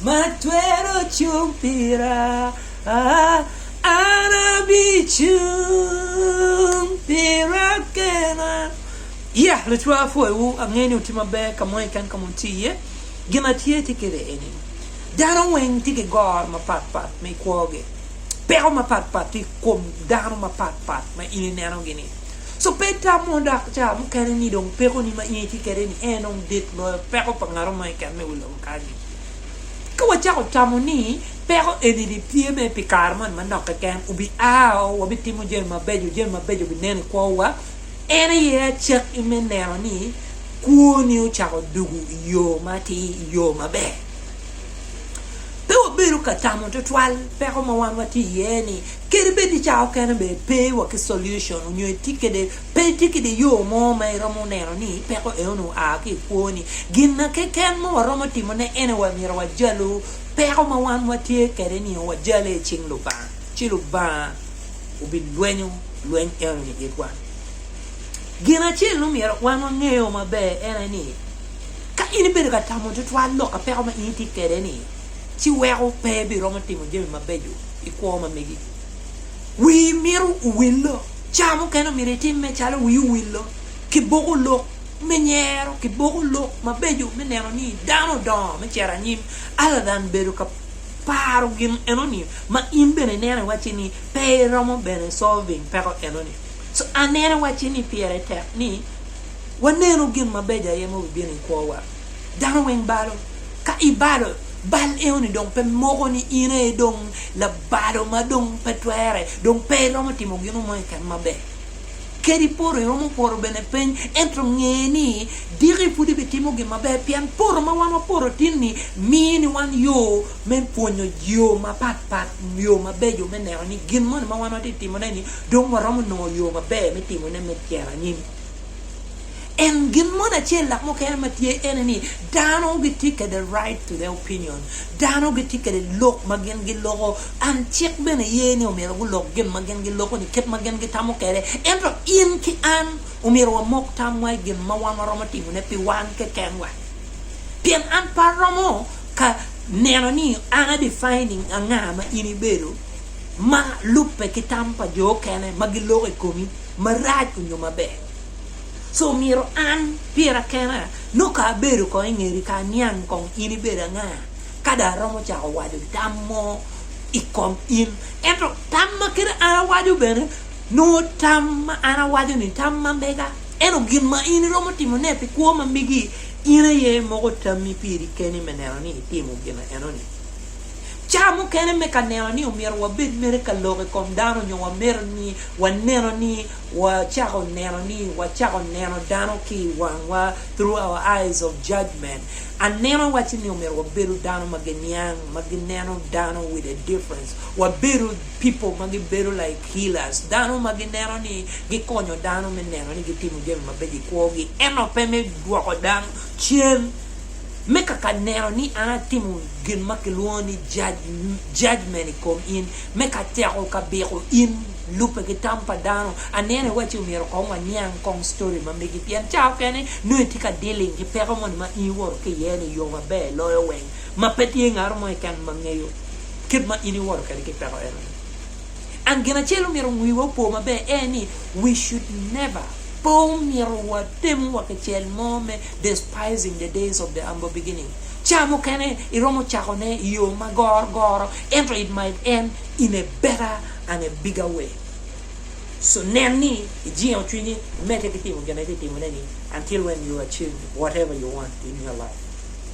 Ma twero cung pira, an abicung pira kena. Yeah, lucwa apwoyowu, angeyo ni wutye maber ka mo keken ka ma wutye iye. Gin atye tye kwede eni, dano weng tye ki goro mapatpat ma i kwogi, peko mapatpat tye i kom dano mapatpat ma in inenogi-ni. So pe itamo dok ca mukene ni dong pekoni ma in itye kwede-ni en dong dit loyo peko pa ngatomo keken me wi lobo. Ka wacako tamo ni peko eni ni tye mere pi kare moni manok keken, wubia, wubitimo jami mabeco, jami mabeco binen i kwowa, en aye acakki me neno ni kwoni ocako dugo i yo matir, i yo maber. Pe wabedo ka tamo tutwal peko ma wan watye iye-ni, kadi bed ni cawa okene bene pe wa ki solution onyo itye kwede Pe itye ki dye yo mo ma iromo neno ni peko enoni oa ki i kwoni. Gin keken ma waromo timone en aye myero wajalu peko ma wan watye kwede nio wajale i cing Lubanga, ci Lubanga obilwenyo lweny enoni i itwa. Gin acel ma myero wan wangeyo maber en aye ni ka in ibedo ka tamo tutwal lok ka peko ma in itye kwede-ni, ci weko pe ibiromo timo jami mabeco i kwo ma megi. Wii mito owillo. Cawa mukene omyero itimme calo wii owillo ki boko lok me nyero ki boko lok mabeco me neno ni dano odongo me cito anyim other than bedo ka paro gin enoni ma in bene ineno iwacci ni pe iromo bene solving peko enoni. So aneno iwacci ni pire tek ni wanenu gin mabeco aye ma bibino i kwowa. Dano weng balo. Ka ibalo, bal eno-ni dong pe moko ni in aye dong labalo ma dong pe twere, dong pe iromo timo gino mo keken maber. Kadi poro, iromo poro bene piny, ento nge ni diki pud ibitimo gin maber pien poro ma wan waporo tin-ni miyo ni wan yo me pwonyo yo mapat pat, yo mabeco me neno ni gin moni ma wan watye ka timone-ni dong waromo nongo yo maber me timone me cito anyim. En gin moni acel lak mukene ma tye ene ni dano gitye kede right to their opinion, dano gitye kede lok ma gin giloko an cik bene ye ni omyero gulok gin ma gin giloko ni kit ma gin gitamo kede ento in ki an omyero wamok tamwa i gin ma wan waromo timo ne pi wan keken wa pien an pe aromo ka neno ni an a defining anga ma in ibedo ma lube ki tam pa jo okene ma giloko i komi marac onyo maber. So myero an, pira kena, nongo ka abedo kong i ngeri ka aniang kong in ibedo anga, ka dong aromo cako waco tam mo i kom in. Ento tam ma kede an awaco bene, nongo tam ma an awaco-ni tam ma mega. Ento gin ma in iromo timone pi kwo ma megi, in aye imoko tammi piri keni me neno ni itimo gin enoni. Ca mukene me ka neno ni omyero wabed mere ka lok i kom dano nyo wamito ni waneno ni Wacako neno ni wacako neno dano ki i wangwa through our eyes of judgement. Anena wacci ni omyero wabedo dano ma giniang, ma gineno dano with a difference. Wabedo people ma gibedo like healers, dano ma gineno ni gikonyo dano me neno ni gitimo jami mabeco i kwogi, ento pe me dwoko dano cen me kaka neno ni an atimo gin ma kilwongo ni judgement i kom in, me ka tyeko ka biko in. Lubbe ki tam pa dano, aneno iwaci omyero kong waniang kong story ma megi pien ca okene nongo itye ka dealing ki peko moni ma in iwoto ki iye ni yo maber loyo weng ma pe tye ngato mo keken ma ngeyo kit ma in iwoto kwede ki peko eno ni. And gin acel omyero wiwa opo maber aye ni we should never pe omyero wa temo wa ki cel mo me despising the days of the humble beginning. Ca mukene iromo cako ne iyo ma goro goro ento it might end in a better An Abigail. So nen ni ijingo cwinyi imedde ki timo gin ma itye ka timone-ni until when you achieve whatever you want in your life.